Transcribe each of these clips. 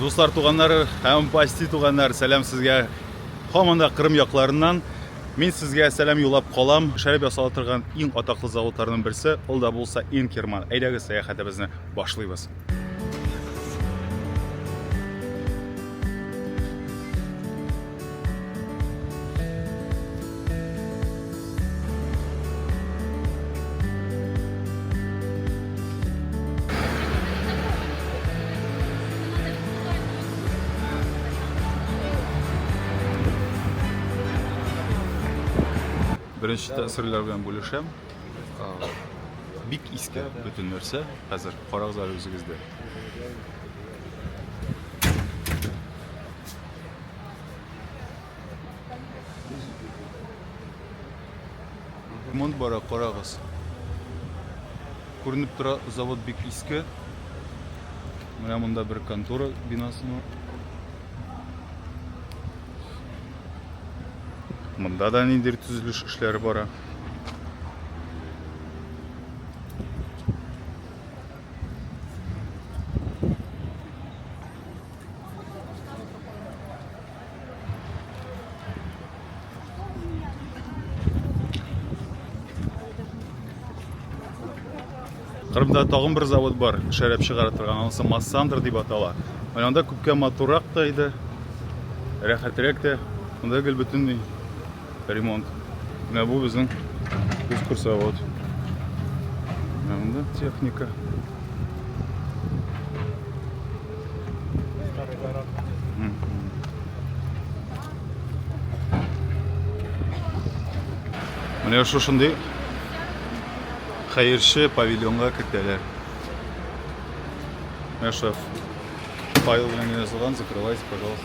Дуслар туганнар һәм пасти туганнар сәлам сезгә һаман да Кырым якларыннан. Мин сезгә сәлам юллап калам. Шәраб ясала торган иң атаклы заводларның берсе, ул да булса Инкерман. Әйдәгез сәяхәтебезне башлыйбыз. Беренче тәэсирләр белән бүлешәм. Бик иске бөтен нәрсә. Хәзер карагыз әле үзегездә. Ремонт бара, карагыз. Күренеп тора, завод бик иске. Менә монда бер контора бинасы бар. Монда да ниндер төзелеш эшләре бара. Кырымда тагын бер завод бар, шәрәп чыгара торган, анысы Массандр дип атала. Анда күпкә матурак та иде, рәхәтрәк тә. Монда гел бөтенләй ремонт. Менә бу безнең кускур завод. Анда техника. Менә шушындый хәерче павильонга кертәләр. Менә шуф. Файл белән язылган, закрывайте, пожалуйста.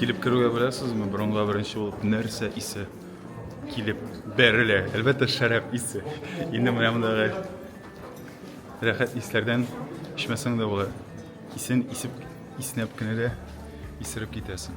Килеп керүгә беләсезме, бронга беренче булып нәрсә исе килеп бәрелә. Әлбәттә, шәраб исе. Инде менә мондагы рәхәт исләрдән эчмәсәң дә була. Исен исеп, иснәп кенә дә исереп китәсең.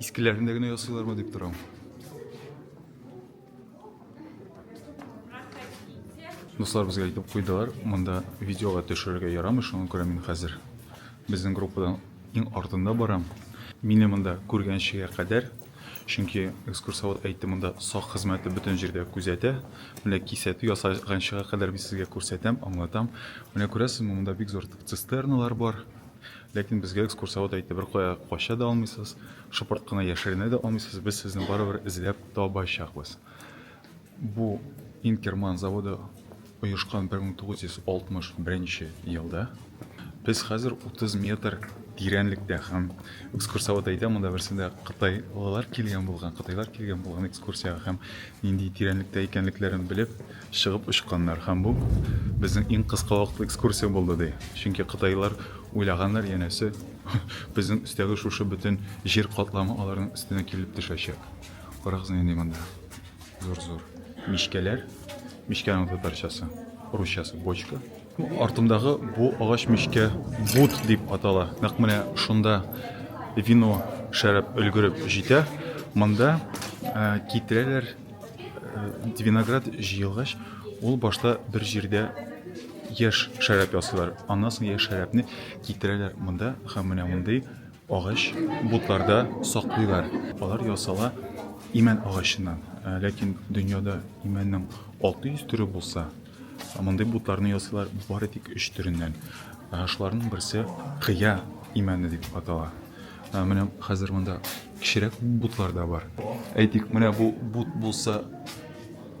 Искеләрен дә генә ясыйлармы дип торам. Дуслар безгә әйтеп куйдылар, монда видеога төшерергә ярамый, шуңа күрә мин хәзер безнең группадан иң артында барам. Мине монда күргәнчегә кадәр, чөнки экскурсовод әйтте, монда сак хезмәте бөтен җирдә күзәтә. Менә кисәтү ясаганчыга кадәр мин сезгә күрсәтәм, аңлатам. Менә күрәсезме, монда бик зур цистерналар бар. Ләкин безгә экскурсовод әйтте, беркая кача да алмыйсыз, шыпырт кына яшеренә дә алмыйсыз, без сезне барыбер эзләп табачакбыз. Бу Инкерман заводы оешкан 1961 елда. Без хәзер 30 метр тирәнлектә һәм экскурсовод әйтә, монда берсендә кытайлылар килгән булган, кытайлар килгән булган экскурсиягә һәм нинди тирәнлектә икәнлекләрен белеп, Чыгып очканнар һәм бу безнең иң кыска вакытлы экскурсия булды, ди. Чөнки кытайлар уйлаганнар, янәсе, безнең өстәге шушы бөтен җир катламы аларның өстенә килеп төшәчәк. Карагыз нинди монда. Зур-зур. Мичкәләр. Мичкәнең татарчасы, русчасы бочка. Артымдагы бу агач мичкә бут дип атала. Нәкъ менә шунда вино шәраб өлгереп җитә. Монда китерәләр Виноград җыелгач, ул башта бер җирдә яшь шәраб ясыйлар. Аннан соң яшь шәрабны китерәләр монда һәм менә мондый агач бутларда саклыйлар. Алар ясала имән агачыннан. Ләкин дөньяда имәннең 600 төре булса, Мондый бутларны ясыйлар бары тик өч төреннән. Шуларның берсе кыя имәне дип атала. Менә хәзер монда кечерәк бутлар да бар. Әйтик, менә бу бут булса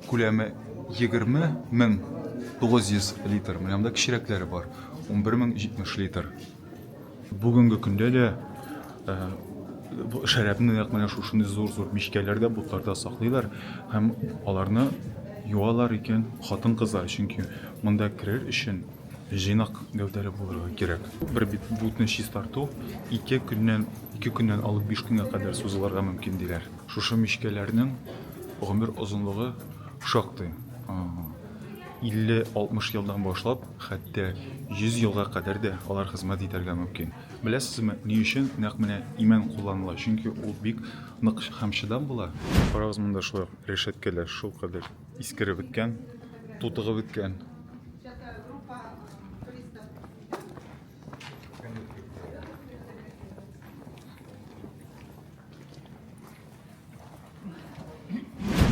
күләме 20 мең 900 литр. Менә монда кечерәкләре бар. 11 мең 70 литр. Бүгенге көндә дә э, шәрабны нәкъ менә шушындый зур-зур мичкәләрдә, бутларда саклыйлар һәм аларны юалар икән хатын-кызлар, чөнки монда керер өчен җыйнак гәүдәле булырга кирәк. Бер бит бутны чистарту 2 көннән 2 көннән алып 5 көнгә кадәр сузылырга мөмкин диләр. Шушы мичкәләрнең гомер озынлыгы шактый. 50-60 елдан башлап, хәтта 100 елга кадәр дә алар хезмәт итәргә мөмкин. Беләсезме, ни өчен нәкъ менә имән кулланыла? Чөнки ул бик нык һәм чыдам була. Карагыз, монда шулай ук рәшәткәләр шулкадәр искереп беткән, тутыгып беткән.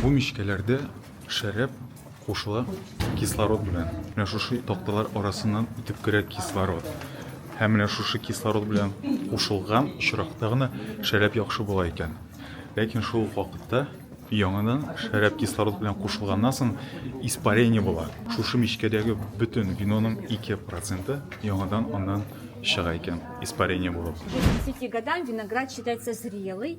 Бу мичкәләрдә шәраб кушыла кислород белән. Менә шушы такталар арасыннан үтеп керә кислород. Һәм менә шушы кислород белән кушылган очракта гына шәраб яхшы була икән. Ләкин шул ук вакытта яңадан шәраб кислород белән кушылганнан соң испарение була. Шушы мичкәдәге бөтен виноның 2% яңадан аннан чыга икән, испарение булып. К 10 годам виноград считается зрелый.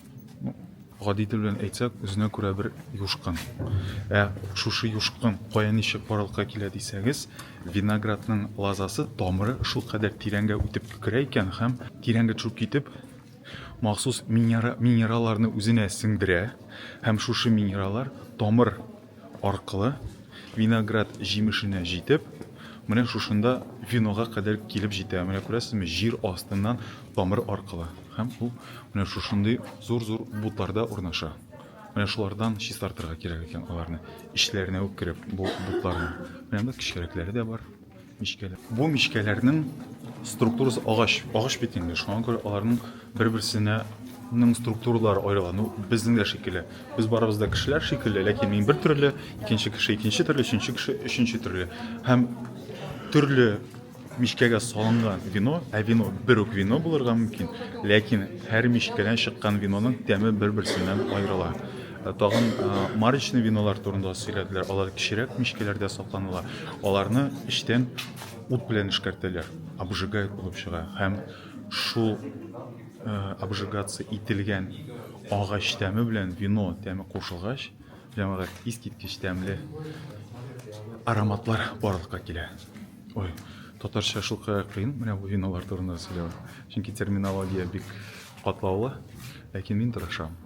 гади тел белән әйтсәк, үзенә күрә бер юшкын. Ә шушы юшкын кая ничек барлыкка килә дисәгез, виноградның лазасы тамыры шул кадәр тирәнгә үтеп керә икән һәм тирәнгә төшеп китеп махсус минералларны үзенә сеңдерә һәм шушы минераллар тамыр аркылы, виноград җимешенә җитеп, менә шушында винога кадәр килеп җитә. Менә күрәсезме, җир астыннан тамыр аркылы. Һәм ул менә шушындый зур-зур бутларда урнаша. Менә шулардан чистартырга кирәк икән аларны. Эчләренә үк кереп, бу бутларны. Менә монда кечкәрәкләре дә бар. Мичкәләр. Бу мичкәләрнең структурасы агач, агач бит инде. Шуңа күрә аларның бер-берсенә ның структуралары аерылган. Безнең дә шикелле. Без барыбыз да кешеләр шикелле, ләкин мин бер төрле, икенче кеше икенче төрле, өченче кеше өченче төрле. Һәм төрле мичкәгә салынган вино, ә вино бер үк вино булырга мөмкин, ләкин һәр мичкәдән чыккан виноның тәме бер-берсеннән аерыла. Тагын марочный винолар турында сөйләделәр. Алар кечерәк мичкәләрдә сакланыла. Аларны эчтән ут белән эшкәртәләр. Обжигает булып чыга. Һәм шул обжигация ителгән агач тәме белән вино тәме кушылгач, җәмәгать искиткеч тәмле ароматлар барлыкка килә. Ой, татарча шул кадәр кыен менә бу виналар турында сөйләү. Чөнки терминология бик катлаулы, ләкин мин тырышам.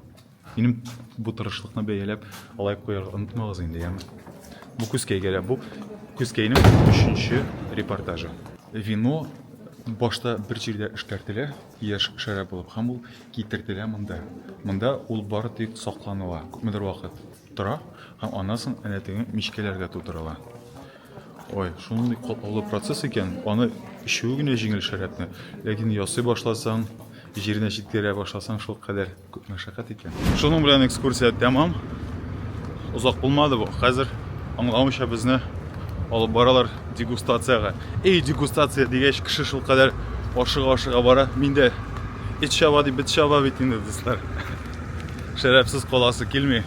Минем бу тырышлыкны бәяләп алай куярга онытмагыз инде, яме. Бу күзкәйгә дә бу күзкәйнең өченче репортажы. Вино башта бер җирдә эшкәртелә, яшь шәраб булып, һәм ул китертелә монда. Монда ул бары тик сакланыла, күпмедер вакыт тора, һәм аннан соң әнә теге мичкәләргә тутырыла. Ой, шундый катлаулы процесс икән, аны эчүе генә җиңел шәрабны. Ләкин ясый башласаң, җиренә җиткерә башласаң, шул кадәр күп мәшәкать икән. Шуның белән экскурсия тәмам. Озак булмады бу. Хәзер аңламыйча безне алып баралар дегустациягә. Эй, дегустация дигәч, кеше шул кадәр ашыга-ашыга бара. Мин дә эт чаба дип бит чаба бит инде, дуслар. Шәрабсыз каласы килми.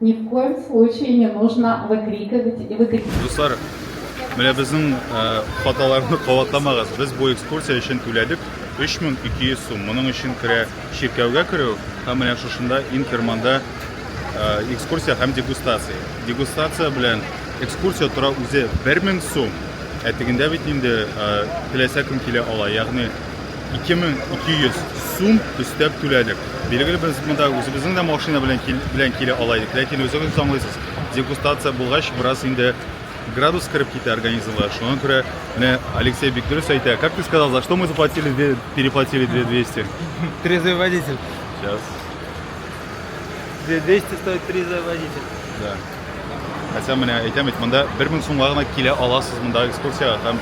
Ни в коем случае не нужно выкрикивать и выкрикивать. Дуслар, менә безнең хаталарны кабатламагыз. Без бу экскурсия өчен түләдек 3200 сум. Моның өчен керә чиркәүгә керү һәм менә шушында Инкерманда экскурсия һәм дегустация. Дегустация белән экскурсия тора үзе 1000 сум. Ә тегендә бит инде теләсә кем килә ала. Ягъни 2200 сум өстәп түләдек. Билгеле, без монда үзебезнең дә машина белән кил, белән килә ала идек, ләкин үзегез аңлыйсыз, дегустация булгач, бераз инде градус кереп китә организмга. Шуңа күрә менә Алексей бик дөрес әйтә. Как ты сказал, за что мы заплатили, две- переплатили 2200? Трезвый водитель. Сейчас. 200 стоит трезвый водитель. Да. Хәсән менә әйтәм бит, монда 1000 сумга гына килә аласыз монда экскурсиягә һәм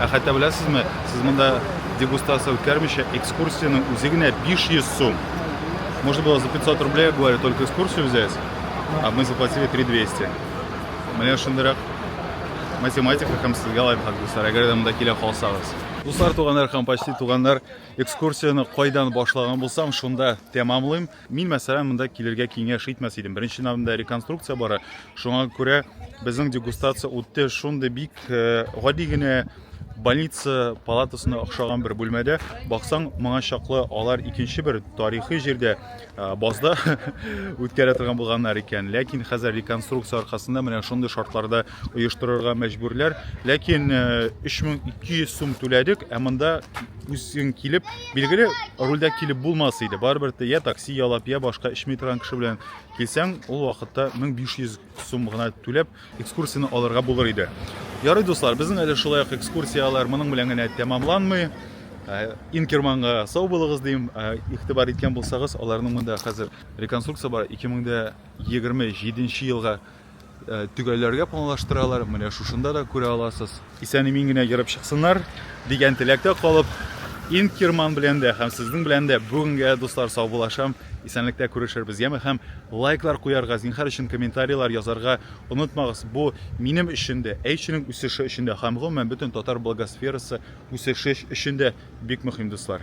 ә хәтта беләсезме, сез монда дегустация үткәрмичә экскурсиянең үзе генә 500 сум. Можно было за 500 рублей, говорю, только экскурсию взять, а мы заплатили 3200. Менә шундыйрак математика һәм сезгә лайфхак дуслар, әгәр дә монда килә калсагыз. Дуслар, туганнар һәм почти туганнар, экскурсияне кайдан башлаган булсам, шунда тәмамлыйм. Мин, мәсәлән, монда килергә киңәш итмәс идем. Беренче намында реконструкция бара. Шуңа күрә безнең дегустация үтте шундый бик э, гади генә больница палатасына охшаган бер бүлмәдә баксаң моңа чаклы алар икенче бер тарихи җирдә базда үткәрә торган булганнар икән ләкин хәзер реконструкция аркасында менә шундый шартларда оештырырга мәҗбүрләр ләкин 3200 сум түләдек ә монда үзең килеп Билгеле, рульдә килеп булмас иде. Барыбер дә я такси ялап, я башка эчми торган кеше белән килсәң, ул вакытта 1500 сум гына түләп, экскурсияне алырга булыр иде. Ярый, дуслар, безнең әле шулай ук экскурсияләр моның белән генә тәмамланмый. Э, Инкерманга сау булыгыз дим. Э, игътибар иткән булсагыз, аларның монда хәзер реконструкция бар. 2027 елга Э, төгәлләргә планлаштыралар, менә шушында да күрә аласыз. Исән-имин генә йөреп чыксыннар дигән теләктә калып, Инкерман белән дә һәм сезнең белән дә бүгенгә дуслар саубулашам. Исәнлектә күрешербез, яме һәм лайклар куярга, зинһар өчен комментарийлар язарга онытмагыз. Бу минем өчен дә, әйшенең үсеше өчен дә һәм гомумән бөтен татар благосферасы үсеше өчен дә бик мөһим дуслар.